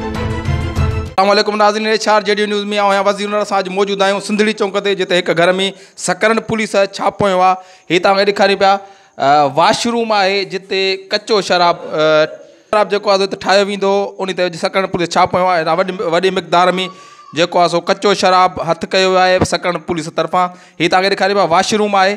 اسلام عليڪم ناظرين ايڇ آر جيڊيو نيوز ۾ آهيان وزير نور سان اڄ موجود آهيون سنڌڙي چونڪ تي جتي هڪ گهر ۾ سڪرنڊ پوليس ڇاپو هنيو آهي هي توهان کي ڏيکاريون پيا واش روم آهي جتي ڪچو شراب شراب جيڪو آهي ٺاهيو ويندو ان تي اڄ سڪرنڊ پوليس ڇاپو هنيو آهي وڏي وڏي مقدار ۾ جيڪو آهي سو ڪچو شراب هٿ ڪيو ويو آهي سڪرنڊ پوليس طرفان هي توهان کي ڏيکاريون پيا واش روم آهي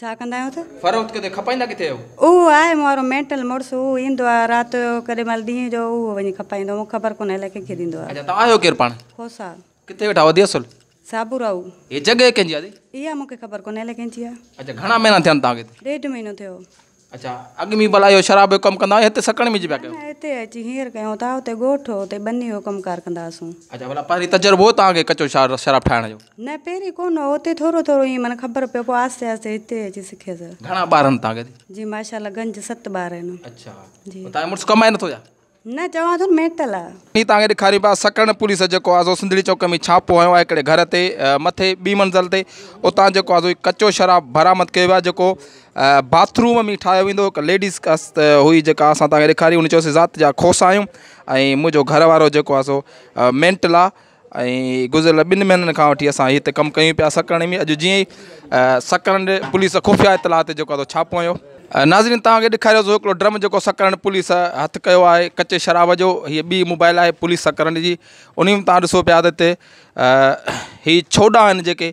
ڇا ڪندا آهيو ته. فروخت ڪندي کپائيندا ڪٿي آهيو؟ اهو آهي مون وارو مينٽل مڙس اهو ايندو آهي رات جو ڪڏهن مهل ڏينهن جو اهو وڃي کپائيندو مونکي خبر ڪونهي الائي ڪنهن کي ڏيندو آهي. اڇا توهان آهيو ڪير پاڻ؟ کوسا. ڪٿي ويٺا وڌي اصل؟ سابوراهو. هي جڳهه ڪنهن جي آهي دادي؟ اها مونکي خبر ڪونهي الائي ڪنهن جي آهي. اڇا گهڻا مهينا ٿيا آهن توهان کي هتي؟ ڏيڍ مهينو ٿيو. اڳ ۾ ڀلا اهو شراب جو ڪم ڪندا هئا يا هتي سڪڻ ۾ جي پيا ڪيو؟ نه نه هتي اچي هينئر ڪيون ٿا، هتي ڳوٺ هو، هتي ٻني هو ڪم ڪار ڪندا هئاسون. اچا ڀلا پهرين تجربو هو توهان کي ڪچو شراب ٺاهڻ جو؟ نه پهرين ڪونه هو، هتي ٿورو ٿورو ائين معنيٰ خبر پيو پوء آهستي آهستي هتي اچي سکيس. گهڻا ٻار آهن توهان کي؟ جي ماشاء الله گنج ست ٻار آهن. اچا ۽ توهان جو مڙس ڪمائي نٿو ڇا؟ نه چوان ٿو مينٽل آ. ھي توھان کي ڏيکاريون پيا سڪرنڊ پوليس جيڪو آھي سو سنڌڙي چوڪ ۾ ڇاپو ھنيو آھي ھڪڙي گھر تي مٿي ٻي منزل تي اتان جيڪو آھي سو ھي ڪچو شراب برآمد ڪيو ويو آھي جيڪو باٿ روم ۾ ٺاھيو ويندو ھو ھڪ ليڊيز ڪست ھئي جيڪا اسان توھان کي ڏيکاري ھن چيوسي ذات جا کوسا آھيون ۽ منھنجو گھر وارو جيڪو آھي سو مينٽل آھي ۽ گذريل ٻن مهينن کان وٺي اسان هتي ڪم ڪيون پيا سڪرنڊي ۾ اڄ جيئن ئي سڪرنڊي پوليس خفيا اطلاع تي جيڪو آهي ڇاپو هنيو ناظرين توهان کي ڏيکاريو سو هڪڙو ڊرم جيڪو سڪرنڊ پوليس هٿ ڪيو آهي ڪچي شراب جو هي ٻي موبائل آهي پوليس سڪرنڊي جي انهي ۾ توهان ڏسو پيا ته هتي هي ڇوڏا آهن جيڪي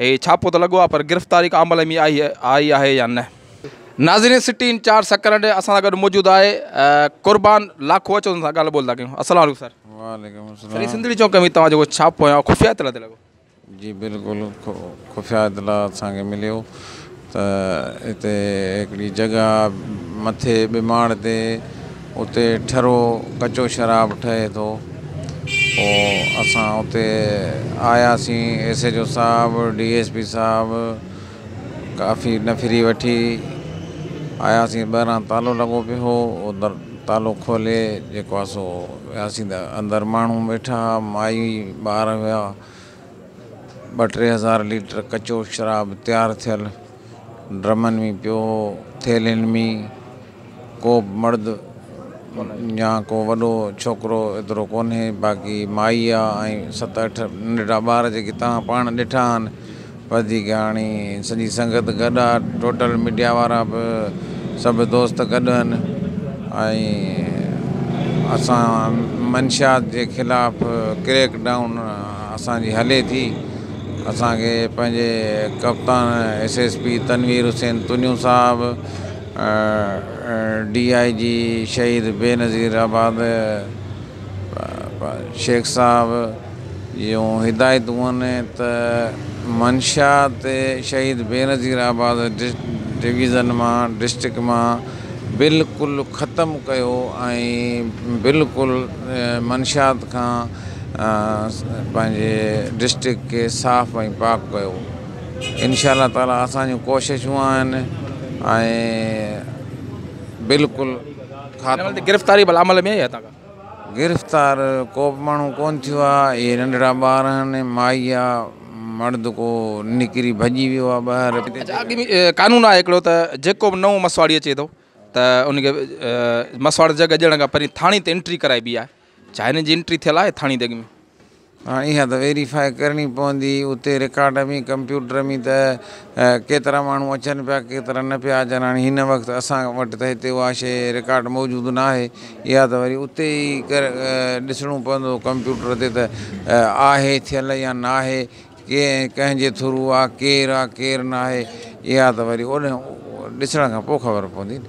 هي ڇاپو ته لڳو آهي پر گرفتاري ڪا عمل ۾ آئي آئي آهي يا نه. ناظرين سٽي ان چار سڪرنڊ اسان سان گڏ موجود آهي قربان لاکو اچو ان سان ڳالهه ٻولهه ٿا ڪيون السلام عليڪم سر. وعليڪم السلام. سر هي سنڌڙي چونڪ ۾ توهان جيڪو ڇاپو هنيو آهي خفيه اطلاع تي لڳو. جي بلڪل خفيه اطلاع اسان کي مليو. ته اتي هڪڙي جڳهه آ مٿي ٻي ماڙ تي اتي ٺرو ڪچو شراب ٺهي ٿو پوء اسان اتي آياسين ايس ايچ او صاحب ڊي ايس پي صاحب ڪافي نفري وٺي آياسين ٻاهران تالو لڳو پيو هو اندر تالو کولي جيڪو آ سو وياسين ته اندر ماڻهو ويٺا مائي ٻار هيا ٻه ٽي هزار ليٽر ڪچو شراب تيار ٿيل ڊرمن ۾ پيو هو. ٿيلهين ۾ ڪو به مرد يا ڪو وڏو ڇوڪرو ايترو ڪونهي، باقي مائي آ ۽ ست اٺ ننڍڙا ٻار جيڪي توهان پاڻ ڏٺا آهن. وڌيڪ هاڻي سڄي سنگت گڏ آ، ٽوٽل ميڊيا وارا به سڀ دوست گڏ آهن ۽ اسان منشيات جي خلاف ڪريڪ ڊائون، اسان جي هلي ٿي. اسان کي پنهنجي ڪپتان S S P Tanveer Hussain Tunio صاحب، ڊي آء جي شهيد بينظير آباد شيخ صاحب جون هدايتون هئن ته منشيات شهيد بينظير آباد ڊويزن مان ڊسٽرڪٽ مان بلڪل ختم ڪيو ۽ بلڪل منشيات کان پنهنجي ڊسٽرڪٽ کي صاف ۽ پاڪ ڪيو انشاء الله تعالٰي اسان جون ڪوششون آهن ۽ بلڪل گرفتاري بلا عمل ۾ آهي گرفتار ڪو به ماڻهو ڪون ٿيو آهي اهي ننڍڙا ٻار آهن مائي آهي مرد ڪو نڪري ڀڄي ويو آهي ٻاهر قانون آهي هڪڙو ته جيڪو به نئون مسواڙي اچي ٿو ته ان کي مسواڙ جڳ اڄڻ کان پهرين ٿاڻي تي انٽري ڪرائبي آهي ڇا هن جي انٽري ٿيل آهي ٿاڻي جڳ ۾؟ هاڻ اها ته ويريفائي ڪرڻي پوندي اتي رڪارڊ ۾ ڪمپيوٽر ۾ ته ڪيترا ماڻهو اچن پيا ڪيترا نه پيا اچن هاڻي هن وقت اسان وٽ ته هتي اها شيء رڪارڊ موجود ناهي اها ته وري اتي ئي ڏسڻو پوندو ڪمپيوٽر تي ته آهي ٿيل يا ناهي ڪير ۽ ڪنهن جي ٿرو آ، ڪير آ ڪير ناهي، اها ته وري اوڏهين ڏسڻ کان پوء خبر پوندي نه.